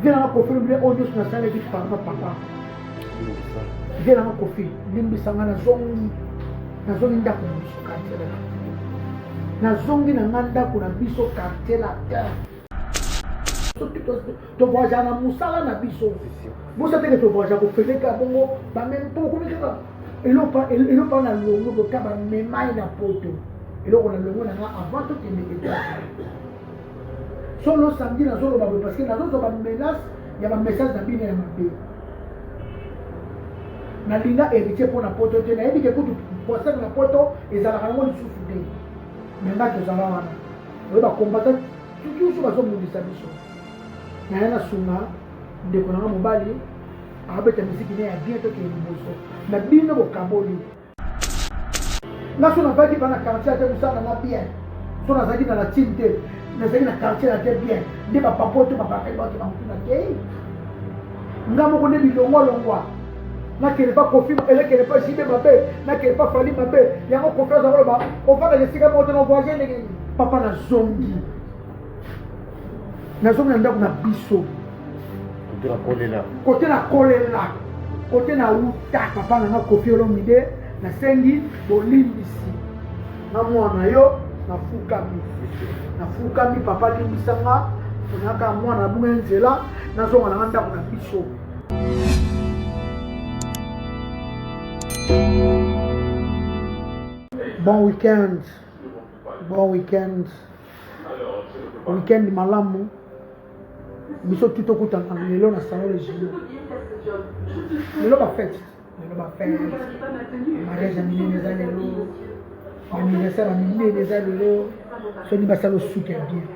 vie nanga kofi lobi oyo nyonso nasalaki papa papa vie nanga kofi limbisa nga nazongi nazongi ndako na biso quartier latin nazongi na nga ndako na biso quartier latin soki tovoyagea na mosala na biso bosa teke tovoyagea kofeteka bongo bameme mpo okomi kaka eloko na longo bota bamemai na poto eloko na longo na nga avant tokende etat solo samedi nazoloba boye parce que nazozwa bamenace ya bamessage na bino ya mabe nalinga héritier mpo na poto te nayebi ke kutu poisane na poto ezalaka yango lisusu te me ngai tozala wana oyo bakombata tutusu bazobundisa biso naye nasunga ndeko na nga mobali akabeta miziki ne ya bien tokende liboso na bino bokaboli nga so nazalaki mpa na quartier ate mosala na bien so nazalaki na latine te nazalaki na quartier na te bien nde bapapa to bapapaki bato bankutu na kei nga moko nde bilongwalongwa nakende mpa kofi elekende mpa jibe mabe nakende mpa fali mabe yango kofi aza koloba ofandaka esika moko te na voyage ndenge papa nazongi nazongi na ndako na biso kote na kolela kote na uta papa na nga kofi olomide nasengi bolimbisi na mwana yo nafukami nafukami papa limbisa nga ponaka mwana na bunga nzela nazonga na nga ndako na biso bon weekend bon weekend weekend malamu biso tuto kutana lelo na salon le juillet lelo bafete lelo bafete mariage ya minene eza lelo anniversaire ya minene eza lelo soki basala osuki ya bien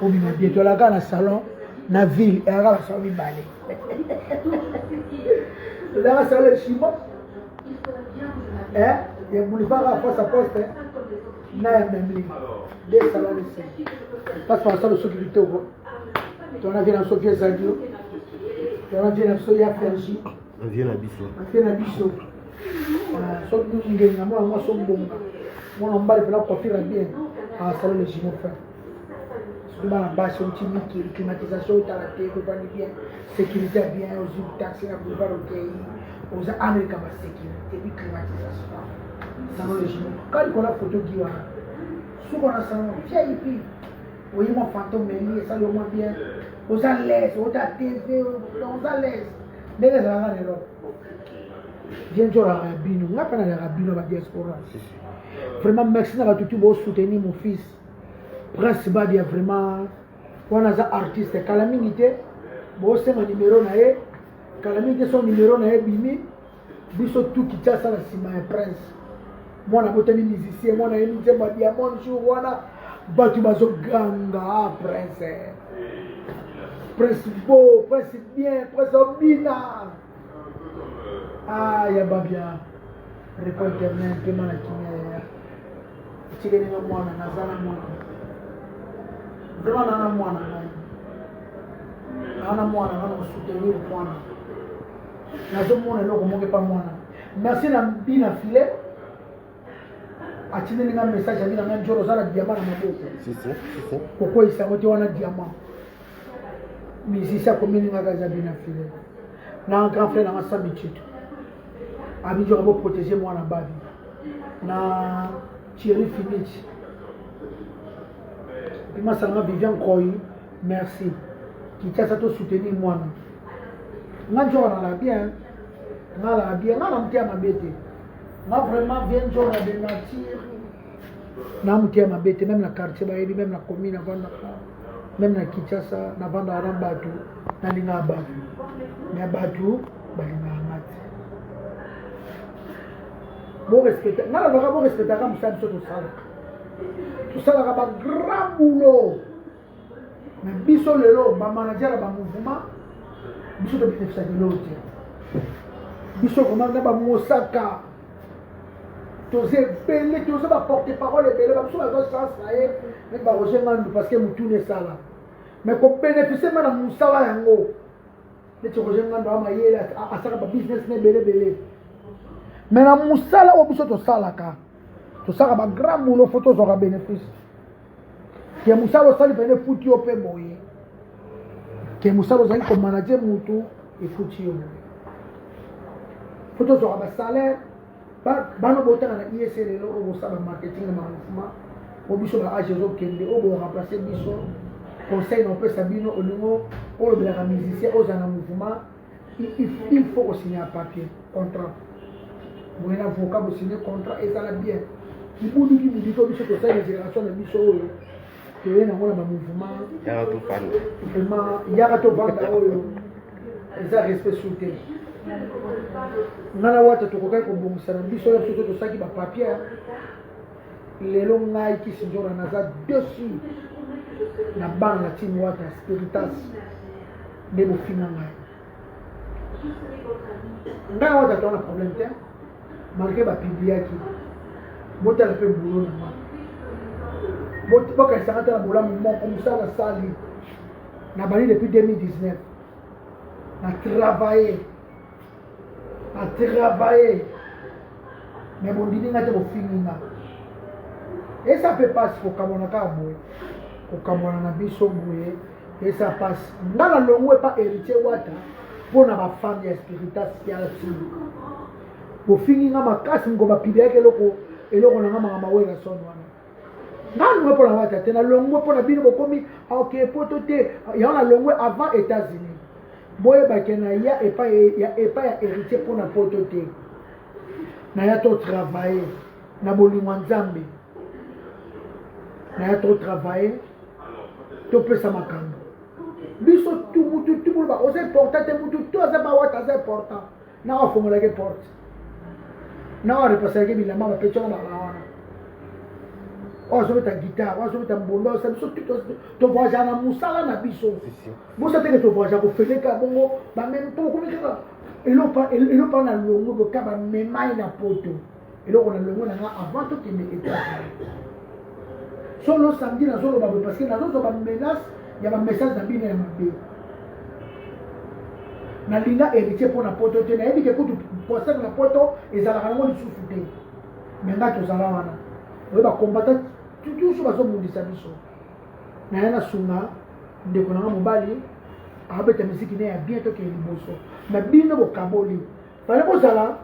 obima bien tolaka na salon na ville eyaka na salon mibale tozalaka salon ya chimo ya boulevard ya poste à poste na ya memli de sala lese parce que asala soki kitoko tona vie na biso vie ezali yo tona vie na biso ya fergi vie na biso vie na biso soki ngenge na mwana mwasi obonga mwana mobali mpena kofira bien asala le gimo frère soki bana basi outi mikili climatisation otala te kobandi bien sécurité ya bien ozwi taxi na boulevard okei oza amerika ba sécurité bi climatisation salon de jimo ka likola foto gi wana suko na salon vip oye mwa fantome eli esali yo mwa bien oza lese ota tv oza lese ndenge ezalaka na erope bien njolaka bino nga mpe nalaka bino ba diaspora vraiment merci na batutu bosoutenir mon fils Prince Badia vraiment wana aza artiste kala mingi te bosenga numero na ye kala mingi te so numero na ye bimi biso tu Kinshasa na nsima ya Prince mwana botami musicien mwana ye nzemba diamond jour wana bato bazoganga ah, Prince Prince beau Prince bien Prince obina Ah, ya babia repo eternel mpema na kimia yaya etikeli nga mwana naza na mwana vraimen naa na mwana ngai naa na mwana nga na kosoutenir mwana nazomona eloko moko epa mwana merci na bina filet atindeli nga message abi na nga njoro oza na diama na maboko kokweyisa yango te wana diama misisi akomelingaka eza bina file na grand frère nanga sami tito abi njoro boprotege mwana babi na thierry finit emasanga vivian koi merci kitasa to soutenir mwana nga njoro nalala bien nalala bien nga na moteya mabe te nga vraiment vien jona de nature na moto ya mabe te meme na quartier bayebi meme na commune navandaka meme na kinshasa navandaka na bato nalingaka bato me bato balingaka nga te borespecta nga nalobaka borespectaka mosala biso tosalaka tosalaka bagrand boulot me biso lelo bamanager ya bamouvement biso tobinefisa lelo te biso vraimen na bamosaka toza ebele toza baporte parole ebele babiso baza chance na ye me baroger ngandu parce que motuna esala me kobénéficie ma na mosala yango neti roger ngandu amayele asaka babusiness na ebele ebele me na mosala oyo biso tosalaka tosaka bagrand boulot fo tozwaka bénéfice ke mosala osali pene efuti yo mpe boye ke mosala ozali komanage motu efuti yo boye mpo tozwaka basalaire bana botanga na ies lelo oyo bosala marketing na mouvement po biso ba age ezokende oyo boremplace biso conseil na opesa bino olingo olobelaka musicien ozala na mouvement il faut ko signer un papier contrat boye na voka bo signer contrat ezala bien libuduki bidiko biso tosali na génération na biso oyo toye nango na bamouvement vraiment yaka tovanda oyo eza respect sur te nga na wata tokokaki kobongisa na biso ya biso tosaki bapapier lelo ngai kisindora naza dessus na bana na tini wata spiritas nde bofinga ngai ngai awa tata wana problème te malgré bapibliaki botala mpe bulo na ngai bokanisaka te na bolamu moko mosala sali na bandi depuis 2019 na travaille na travaille me bondimi nga te bofingi nga esa mpe mpasi kokamwana kaka boye kokamwana na biso boye Esa pasi. Nga na longo epa Heritier Wata mpo na ba femme ya spiritas ya sulu. Bofingi nga makasi mko bapiliaki eloko eloko na nga maka mawela son wana. Nga longo mpo na Wata te, na longo mpo na bino bokomi ah, ok poto te. Yango na longo avant États-Unis. Boyebake na ya epa ya epa ya Heritier mpo na poto te. Na ya to travailler. na bolingo ya nzambe naya trop travaille topesa makambo biso tu mutu tu boloba oza important te mutu tu aza bawata aza important na wafongolaki porte na warepasalaki bilamba bapeti wana bala wana oyo azobeta gitare oyo azobeta mbondo osa biso tovoyagea na mosala na biso bosa teke tovoyagea kofeleka bongo bameme mpo okomi kaka elopaa na longo bota bamemai na poto eloko na longo na nga avant tokende Etats-Unis. Solo samedi nazoloba boye parce que nazozwa ba menace ya ba message na bino ya mabe. Nalinga héritier mpo na poto te nayebi ke kutu poisson na poto ezalaka nango lisusu te me ngai tozala wana oyo bakombata tutusu bazobundisa biso naye nasunga ndeko na nga mobali abeta miziki ne ya bien tokee liboso na bino bokaboli fale bozala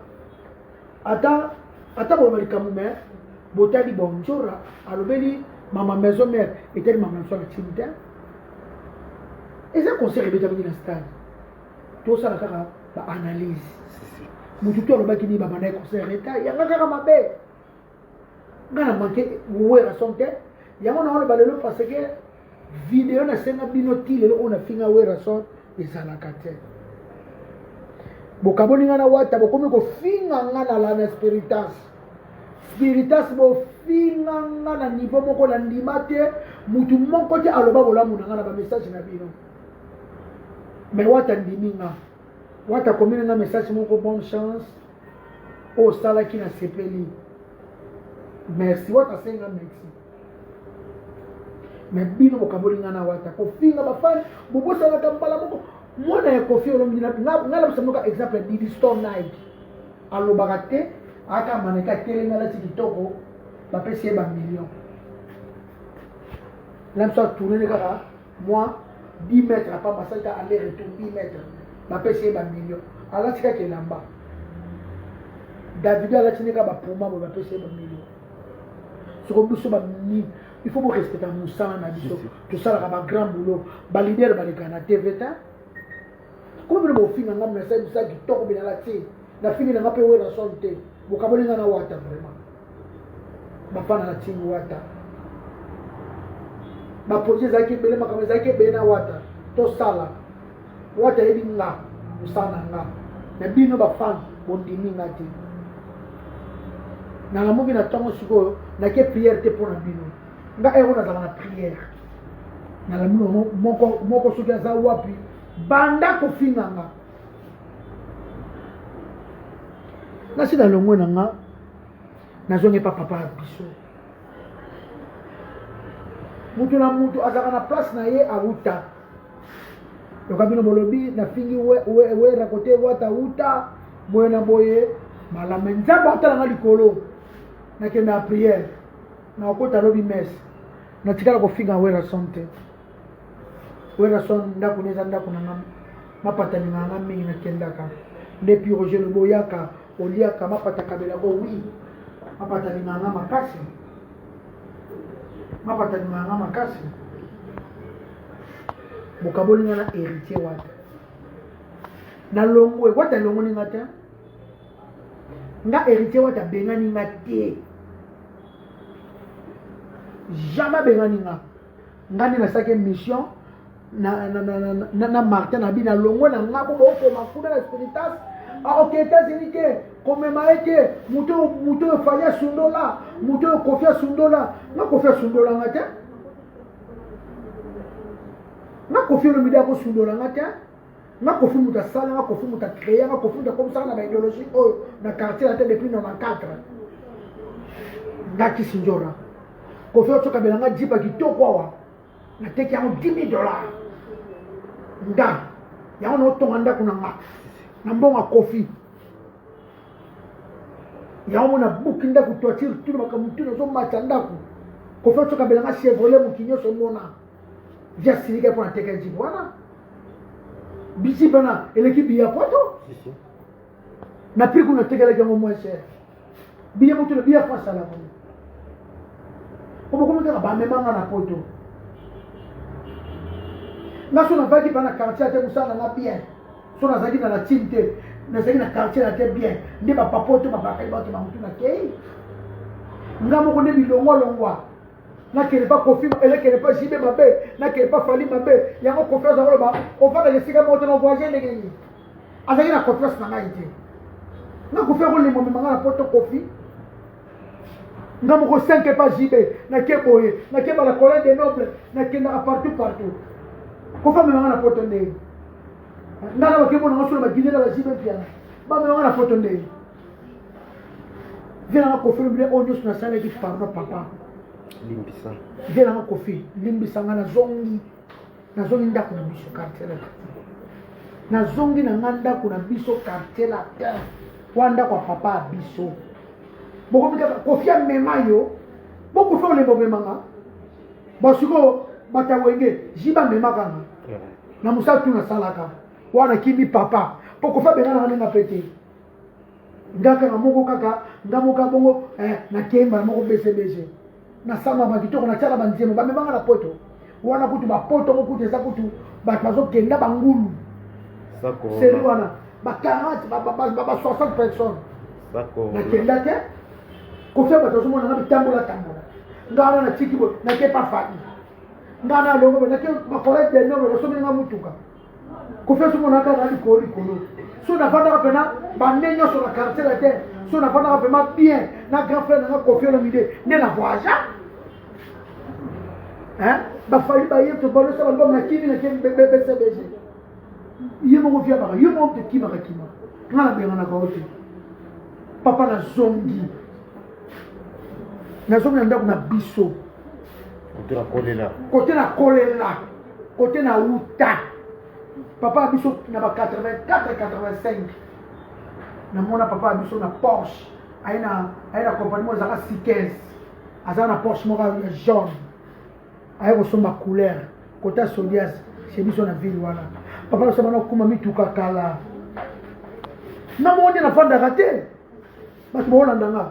ata ata boloba likambo me botali bonjora alobeli mama maison mère etali mama maison na timi te eza concert ebetamaki na stade tosala kaka baanalyse motu to alobaki nini babandaki concert eta yanga kaka mabe nga na manke wera son te yango naoloba lelo parce que video nasenga bino ti lelo oyo nafinga wera son ezalaka te bokaboli nga na wata bokomi kofinga nga na lana spiritas spiritas bofinga nga na nivo moko na ndima te motu moko te aloba bolamu na nga na bamessage na bino me wata ndimi nga wata akomeli nga message moko bonne chance oyo osalaki na sepeli merci wata asenga merci me bino bokaboli nga na wata kofinga bafani bobosanaka mbala moko mwana ya kofi olombi ngai nabisa moka exemple didi store nike alobaka te aka maneke atelemi alati kitoko bapesi ye bamillion na biso atournene kaka mwa bimetre apa basali ka aller retour bimetre bapesi ye bamillion alati kaka elamba davidi alati nde kaka bapuma boye bapesi ye bamillion soko biso bamini il faut borespecta mosala na biso tosalaka bagrand boulot balidere baleka na tv te Kuna bino bofinga nga message bisa kitoko bilala ti. Na fingi na nga pe wera son te. Bokaboli nga na wata vraiment. Bafana na tingi wata. Ba projet ezalaki ebele makambo ezalaki ebele na wata. Tosala. Wata yebi nga. Mosala na nga. Na bino bafana bondimi nga te. nalamuki na ntango sikoyo nake priere te mpo na bino nga heure oyo nazalaka na prière nalamuno yango moko moko soki aza wapi banda kofinga nga nasi nalongwe na nga nazongi epa papa ya biso moto na moto azalaka na place na ye awuta yoka bino bolobi nafingi werakote we, we, wata wuta boye na boye malama nzambe atalanga likolo nakenda ya prière nakokota lobi messe natikala kofinga werason te werason ndako na eza ndako na nga mapata linga nga mingi nakendaka nde pi roger lobo oyaka oliaka mapata kabela ko wi mapata linga nga makasi mapata linga nga makasi bokaboli nga na héritier wata nalongwe wata elongoli nga te nga héritier wata abengani nga te jamais abengani nga nga nde nasalaki émission na, na, na, na, na, na martin na bino alongwe na nga bo bokoma kuna na spiritas aoke ah, états-unis te komema ye te moto oyo fali asundola moto oyo kofi asundola nga kofi asundola nga te nga kofi olomide akosundola nga te nga kofi moto asala nga kofi moto acreye nga kofi moto akomisaka na baideologie oyo na quartier na te depuis 94 nga kisindjora kofi otokabela nga jipa kitoko awa nateki yango 10 dollar nga yango naotonga ndako na nga na mbongo kofi yango mona buki ndako toitire tuna makambo tuna ozomata ndako kofi otokabela nga chevrolet moki nyonso mona ja silika mpo na teka ya jipe wana biji bana eleki biya poto na prix kuna tekelaki yango moins cher biya poto na biya fo asala boye obokomi kaka bamemanga na poto nga so navaki bana quartier ate mosala na bien so nazalaki na latine te nazalaki na quartier na te bien nde bapapoto babakaki bato na motu na kei nga moko nde bilongwalongwa nakende pa kofi mabe nakende pa jibe mabe nakende pa fali mabe yango confiance yango loba ofandaka esika moko te na voyage ndenge nini azalaki na confiance na ngai te nakofi akolemba mema ngai na poto kofi nga moko 5 epa jibe nake boye nake bala colin de noble nakendaka partout partout kofi amema ngai na poto ndenge nga na bakembo na ngai solo babine na bajibe mpiana bamema ngai na poto ndenge vie nanga kofi lobi oyo nyonso nasalaki pardon papa limbisa vie nanga kofi limbisa nga nazongi nazongi ndako na biso quartier latin nazongi na nga ndako na biso quartier latin wana ndako ya papa ya biso bokomi kaka kofi amema yo bokofi olemba omemanga basikoyo bato ya wenge ji bamemaka nga na mosala tu nasalaka wana kimi papa mpo kofi abengana nga ndenge mpe te nga kaka moko kaka nga moka bongo eh, nakei mbala moko bcbg nasamba bakitoko natyaka banzembo bamemanga na poto wana kutu bapoto ngo kutu eza kutu bato bazokenda bangulu seri wana ba 40 ba 60 personnes nakenda te kofia bato bazomona nga bitambola tambola nga wana natiki boye nake pa fai nga na longo boye nake bakola denoble basombeli nga motuka kofi azomona kaka na likolo likolo so nafandaka mpena bande nyonso na quartier latin so nafandaka mpema bien na grand frère nanga kofi olomide nde na voyage bafali baye tobalesa balbom na kimi na kimi bcbg ye moko viabaka yo moko tokimaka kima nga nabenganaka yo te papa nazongi nazongi na ndako na biso kote na kolela kote na uta papa ya biso na ba 84 85 namona papa ya biso na porsche aye na aye na compagnie moko ezalaka sikes aza na porsche moko ya jaune aye kosomba couleur kota sodias chez biso na ville wana papa biso bana kokuma mituka kala na moko nde nafandaka te bato baolanda nga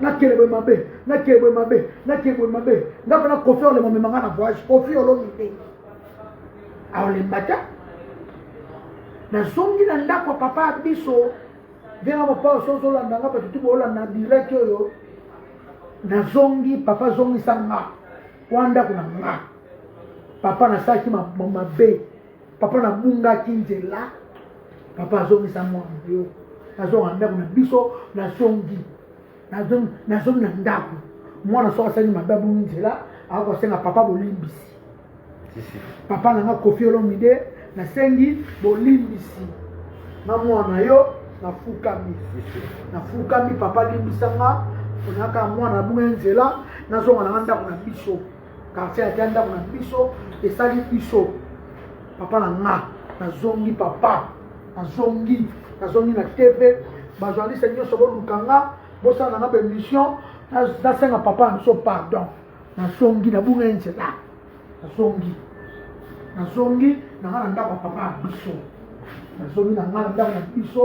nakele boye mabe nakele boye mabe nakele boye mabe nga mpena kofi olema omema nga na voyage kofi olomi te aolemba te nazongi na ndako papa ya biso ndenga papa oso ozolanda nga bato tu boolanda direct oyo nazongi papa zongisa nga wana ndako na nga papa nasalaki mabe ma, ma papa na bungaki nzela papa azongisa mwana na yo nazonga na ndako na biso nazongi nazongi na ndako mwana soki asali mabe abungi nzela akoki kosenga papa bolimbisi papa na nga kofi olomide nasengi bolimbisi na mwana yo nafukami nafukami papa limbisa nga onaka mwana abunga nzela nazonga na nga ndako na biso Quartier ya Kianda kuna biso esali biso papa na nga nazongi papa nazongi nazongi na TV ba journaliste nyoso boluka nga bosala na nga ba émission nasenga papa na biso pardon nazongi nabunga ye nzela nazongi nazongi na nga na ndako ya papa na biso nazongi na nga na ndako na biso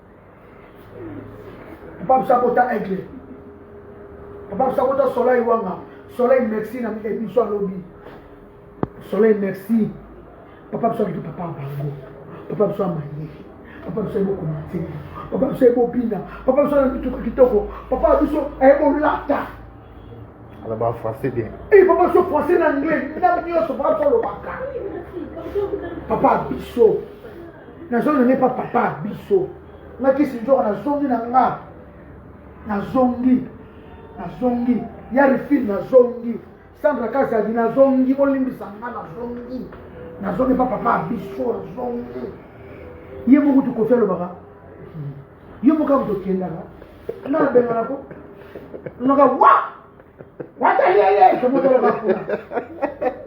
papa biso abota aigle papa biso abota soleil wanga soleil merci na biso alobi soleil merci papa biso abitu papa ya bango papa biso amaye papa biso ayebi okoma nzembo papa biso ayebi obina papa biso ayebi mituka kitoko papa biso ayebi olata Ala ba français bien. Eh papa so français na anglais, na nyoso papa ko lobaka. Papa biso. Na zone n'est pas papa biso. Na kisi njoka na zongi na nga. Na zongi. Na zongi. Yari fil na zongi. Sandra Kasa di na zongi olimbisa nga na zongi. Na zongi pas papa biso na zongi. Ye moko tu kofia lobaka. yo moko abuta okendaka na abengana ko noka wa wata yeye tomotoloka kuna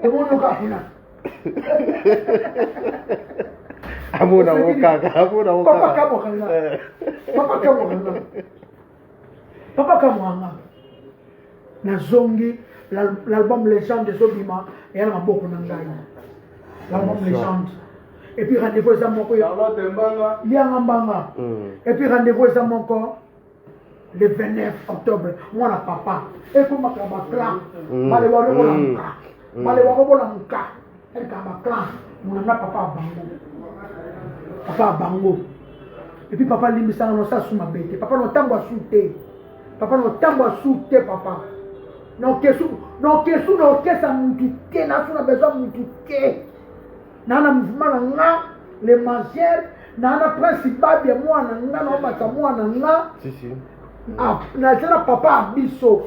tomonoka kuna amona ngo kaka amona ngo kaka papa kamokanga papa kamokanga papa kamokanga nazongi l'album legende ezobima eya na maboko na ngai l'album legende epuis rendez-vous eza moko lianga mbanga hmm. epuis rendez-vous eza moko le 29 octobre mwana papa ekomaka baclan hmm. balewa lokola muka hmm. balewa kobola muka Eka ba clan munanga papa ya bango papa ya bango epi papa alimbisaka na osasu mabe te papa na ntango asu te papa na ntango asu te papa na okesu na okesu na okesa mutu te nasu na besoin mutu te naa na mouvement na nga le mangere naa na principal ya mwana nga na omata mwana nga nazala papa ya biso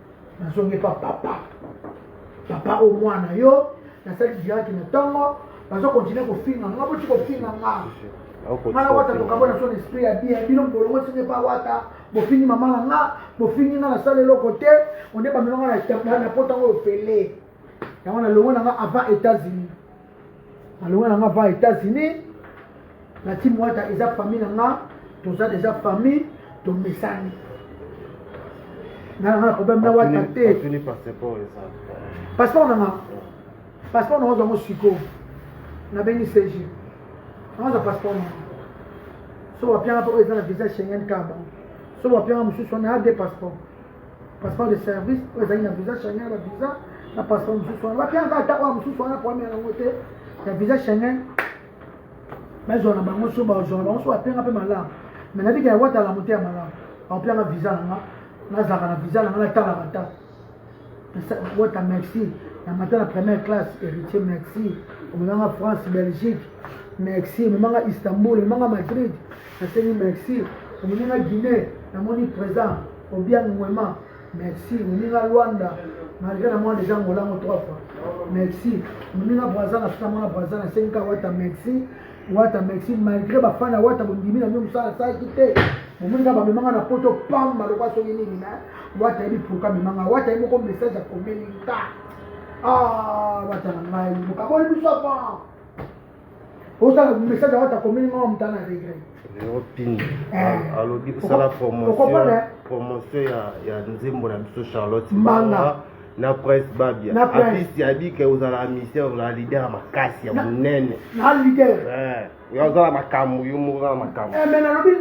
nazongi epa papa papa o mwana yo nasali diraki na ntongo bazokontinue kofinga nga boti kofinga nga nga na wata tokabo na son esprit ya bien bino mbolongo esenge pa wata bofingi mama na nga bofingi nga nasala eloko te onde bamelo nga na pota ngo ofele yango na longo na nga avant états-unis nalonga na nga va états-unis na ti mwata eza famille na nga toza deja famille tomesani nanga problème na wata te passeport nanga passeport nanga ozwango sikoyo nabengi cg nanga ozwa passeport nanga so wapianga mpo eza na visa schengen kaba so wapianga mosusu wana ya de passeport passeport de service oyo ezali na visa Schengen ba visa na passeport mosusu wana wapi yango ata oyo mosusu wana problème yango te ya visa Schengen bazwa na bango so bazwa na bango so bapianga mpe malamu mais nabika ya wata alamu te ya malamu bakopianga visa na nga nazalaka na visa na nga natalaka ta wata merci na mata na première classe héritier merci omemanga france belgique merci omemanga istanbul omemanga madrid Nasengi merci na moninga Guinee, namoni present Obiang Nguema, merci moninga Luanda, malgré na mwana deja Angola ngo trois fois, merci moninga Brazza, na fana mwana Brazza, nasengi ka Wata merci Wata merci, malgré bafana ya Wata bondimi na bino mosala asalaki te omoni kaka bamemanga na poto pamba lokola soki nini me wata yebi pourka memanga wata ye moko message akomeli nka ah, wata na ngai mokaboli biso avant ozala message ya wata komeli mama moto ana regret opini eh. alobi kosala promotion ya nzembo na biso charlotte mbanga na prince babia apisi abike ozala amisien ozala lider ya makasi ya monene na lider eh, yo ozala makambo yo moko ozala makambo eh, me nalobi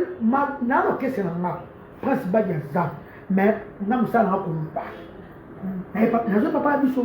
na lokese na nga prince babia aza me nga mosala nanga koloba nazo papa ya biso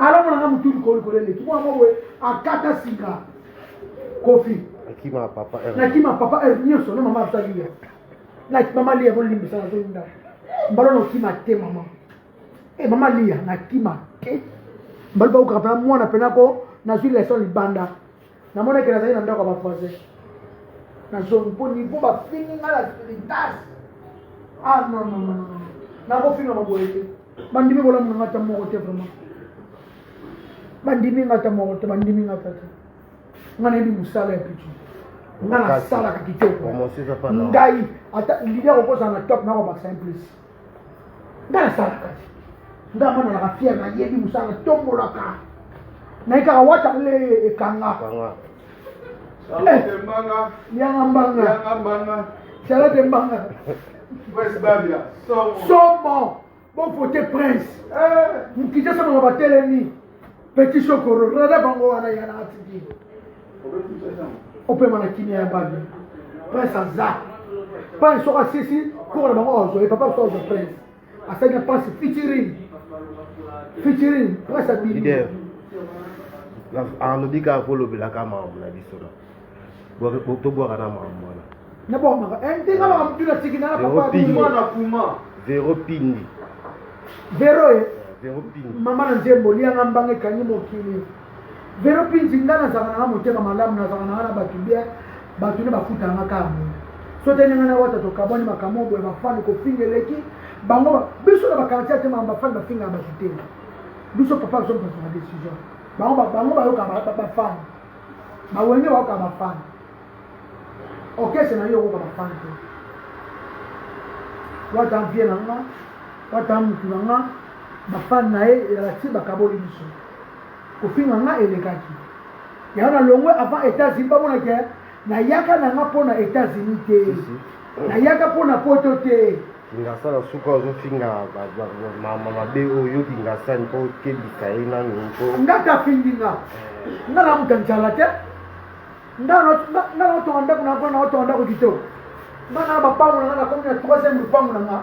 alomona nga motu likolo likolo eleki mwana moko boye akata singa kofi nakima papa nakima papa heure nyonso na mama azali ya na mama liya bolimbisa nazolinda mbalo nokima te mama e mama liya nakima te mbalo bakokaka mpena mwana mpena ko nazwi leson libanda namonaki nazali na ndako ya bavoisin nazongi mpo nivo bafingi ngai na spiritas ah non non non nakofinga maboye te bandimi bolamu na ngai ata moko te vraiment bandimi ngai ata moko te bandimi ngai ata te ngai nayebi mosala ya pitu ngai nasalaka kitoko ngai ata lidi akokozala na top nakobakisa implice nga nasalaka te nga mwana na rafiere nayebi mosala tombolaka naye kaka wata le ekanga eh, yanga mbanga salote mbanga somo bofote prince eh. mokitesama na batelemi Petit Chokoro, rada bango wana ya na atiki. Opema na kimia ya babi. Prince aza. Prince soki asisi koko na bango azwa ye papa biso azwa prince. Asali na pasi featuring. Featuring prince abimi. Leader. Alobi kaka kolobelaka mawa na biso na. tobwaka na makambo wana na bwaka maka eh, ndenge alaka motu na tiki na na kuma vero pindi vero ye vero pindi mama na nzembo lianga mbanga ekangi mokili vero pindi nga nazalaka nanga motema malamu nazalaka nanga na bato bien bato nde bafutaka nga kaka boye so te ndenge na wata tokabwani makambo boye bafani kofinga eleki bango biso na bakartier ya tema bafani bafingaka bato te biso papa biso mpasaka décision bango bango bayoka bafani ba wenge wayoka ba fan orchestre na yo okoka ba fan te wata vie na nga wata mutu na nga ba fan na ye elakisi bakaboli biso kofinga nga elekaki yango na longwe avant états-unis bamona ke nayaka na nga mpo na états-unis te nayaka mpo na poto te Kingasa na suka ozo finga mama mabe oyo kingasa ni ko kebisa ye nanu ko. Nga ta fingi nga. Nga na muta njala te. Nga na nga na tonga ndako na ko na tonga ndako kito. Nga na ba pango na na komi na troisième lupango na nga.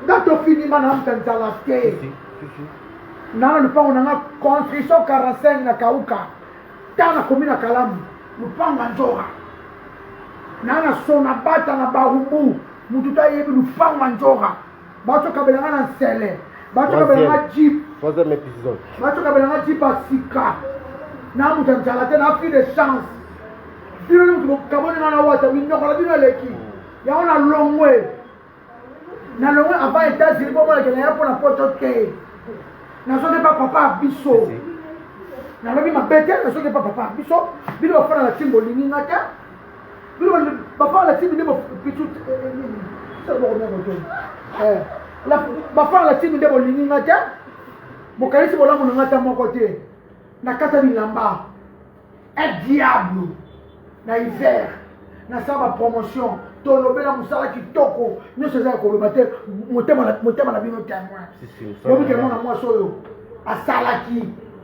Nga to fingi nga na muta njala te. Na na lupango na nga construction 45 na kauka. Ta na komi na kalamu lupango nzora. Na na sona bata na barubu. mutu ta yebi lupango ya njora batokabela nga na nsele batokabela nga jip troisième épisode batokabela nga jip ya sika na mutu ya njala te na fille de chance bino ni mutu bokaboni nga na wata minyokola bino eleki yango na longwe na longwe avant états-unis bomonakela ya mpo na poto te nazoki pa papa ya biso nalobi mabe te nazoki pa papa ya biso bino bafana na ntimbo olingi nga te bafala timi nde pitu bafala timi nde bolingi nga te bokanisi bolamu na nga ta moko te nakata bilamba un diable na hiver nasala bapromotion tolobela mosala kitoko nyonso eza ya koloba te motema na bino temoin bobikela mwana mwasi oyo asalaki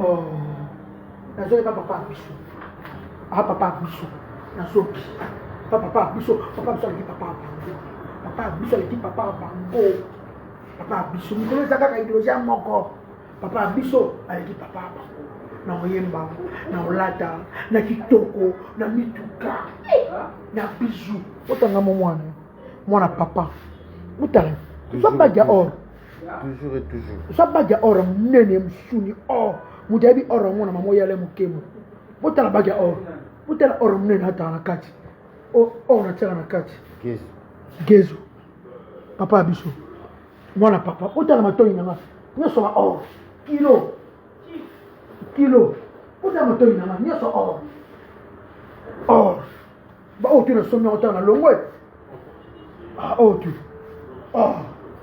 Oh, nazoyeba papa ya biso a ah, papa ya biso nazoki pa papa ya biso papa biso aleki papa ya bango papa ya biso aleki papa ya bango papa ya biso mikolo eza kaka ideologie ya moko papa ya biso aleki papa ya bango na oyemba na olata na kitoko na mituka na bizu otanga mo mwana mwana papa otala ozambaki ya or toujours et toujours oza bage ya or ya monene mosuni or moto ayebi or yango na mama oyala mokemo botala bage ya or botala or ya monene atala na kati or natiaka na kati gezo papa ya biso mwana papa otala matoi na nga nyonso ba or kilo kilo otala matoi na nga nyonso or or Ba oyo tu na somi yango tanga longo e. Ah oyo tu. Oh.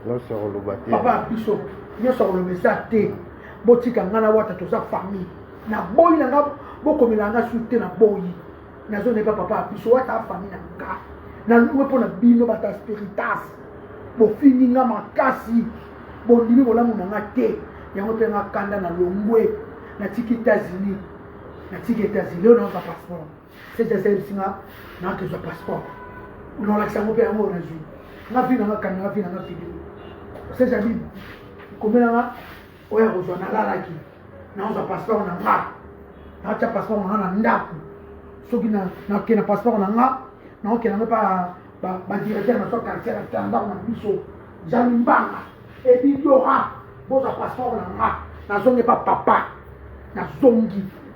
Nyonso akoloba te. Papa biso nyonso akoloba eza te. Botika ngai na wata toza famille. Na boyi na ngai bokomela ngai su te na boyi. Nazo neba papa biso wata famille na ngai. Na louwe mpo na bino bata spiritas. Bofingi ngai makasi. Bondimi bolamu na ngai te. Yango mpe ngai kanda na longwe. Natiki États-Unis. Natiki États-Unis. Leo na passeport. Sete service nga na ke za passeport. Na wala kisango pe yango na zui. Nga fina nga kanga nga fina nga fini. Sete abi komela nga oya ko zwa na lala ki. Na za passeport na nga. Na cha passeport na na ndaku. Soki na na ke na passeport na nga. Na oke na pa ba ba directeur na so quartier na tanda na biso. Jami mbanga. Et puis Dora, boza passeport na nga. Na zonge pa papa. Na zongi.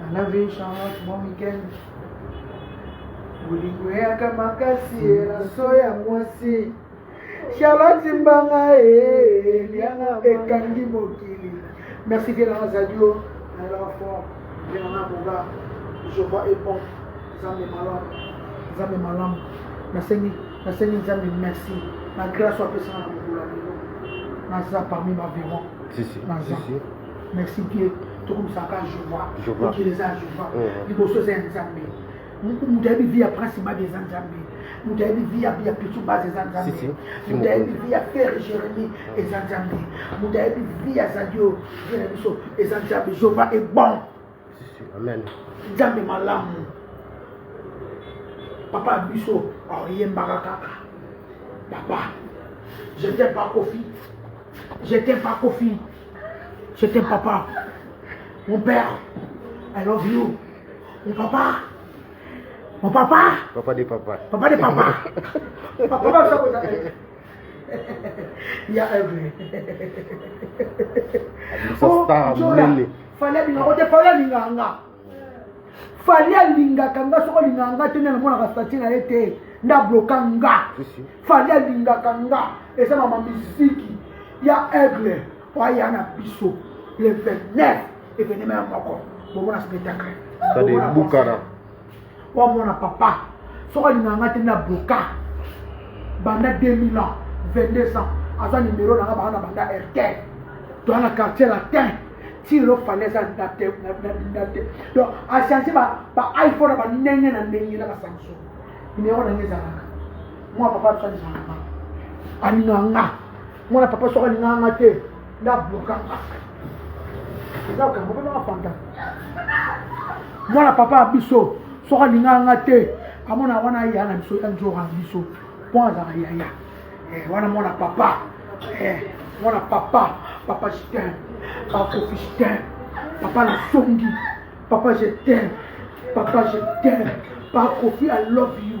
Alavi Charlotte, bon week-end. Bolingo eyaka makasi elaso ya mwasi. Charlotte Mbanga eliana eh, eh, ekangi mokili. Merci bien na radio na la fort. Bien na boga. Je vois et bon. Zambe malamu. Zambe malamu. Nasengi nasengi Zambe merci. Na grâce apesa na mokolo ya lelo. Naza parmi ma vivant. Si si. Naza. Si, si. merci bien tokomisaka jova mokili eza ya jova liboso eza ya nzambe moto ayebi vi ya prince babi eza nzambe moto ayebi vi ya ya pitu base eza nzambe moto ayebi vi ya fere jeremi eza nzambe moto ayebi vi ya zadio vi na biso eza nzambe jova ebon amen nzambe malamu papa ya biso oyembaka kaka papa je t'aime pas kofi je t'aime pas kofi je t'aime papa mon père i love you mon papa mon papa papa de papa papa de papa papa ya aigle fali alingaka te fali alingaka nga fali alingaka nga soko alingaka nga te nde namonaka stati na ye te nda bloka nga fali alingaka nga eza na mamiziki ya aigle oaya na biso le 29 evenema ya moko bomona spectacle bukana Wa mwana papa, soki alinga nga te na bloka banda 2000 ans, 22 ans, aza numero na nga bana banda RTL. Toa na quartier latin, ti lo falaise na te na te. Donc a changer ba ba iPhone ba ndenge na ndenge na Samsung. Numero na nga ezalaka. Mwa papa tsa nzanga. Alinga nga. mwana papa soki alingaka nga te nde ablokanga eza okango mpe nanga fanta mwana papa ya biso soki alingaka nga te amona wana ya na biso ya nzoka na biso mpo azalaka yaya eh, wana mwana papa eh, mwana papa papa jitin bakofi jitin papa lasongi papa jetin papa jetin bakofi i love you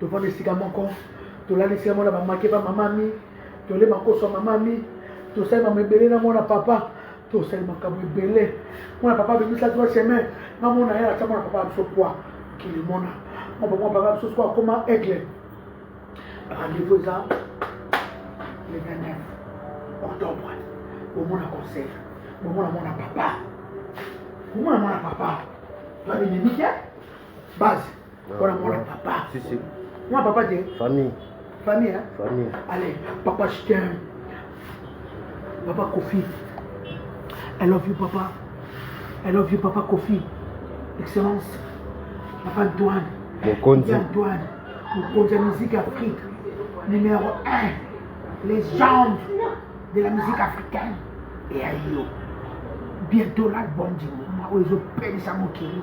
tovanda esika moko tolali esika moko na bamake ba mama mi tole makoso ya mama mi tosali mama ebele na mwana papa tosali makambo ebele mwana papa abebisa trois chemin na mona ye atia mwana papa biso poi mokili mona mwana papa papa biso soko akoma aigle rendez-vous eza le 29 octobre bomona conseil bomona mwana papa bomona mwana papa babinemi te base mpona mwana papa mwana papa te famille famille hein? famille allez papa je t'aime papa kofi i love you papa i love you papa kofi excellence papa antoine mokonzi antoine mokonzi ya musique afrique numéro 1 légende de la musique africaine eya yo bientôt l'album du moment oyo ezopelisa mokili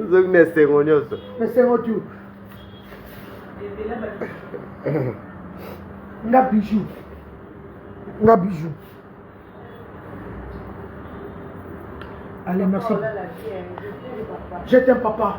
ozoki na esengo nyonso esengo tu nga bijou nga bijou allez merci je t'aime papa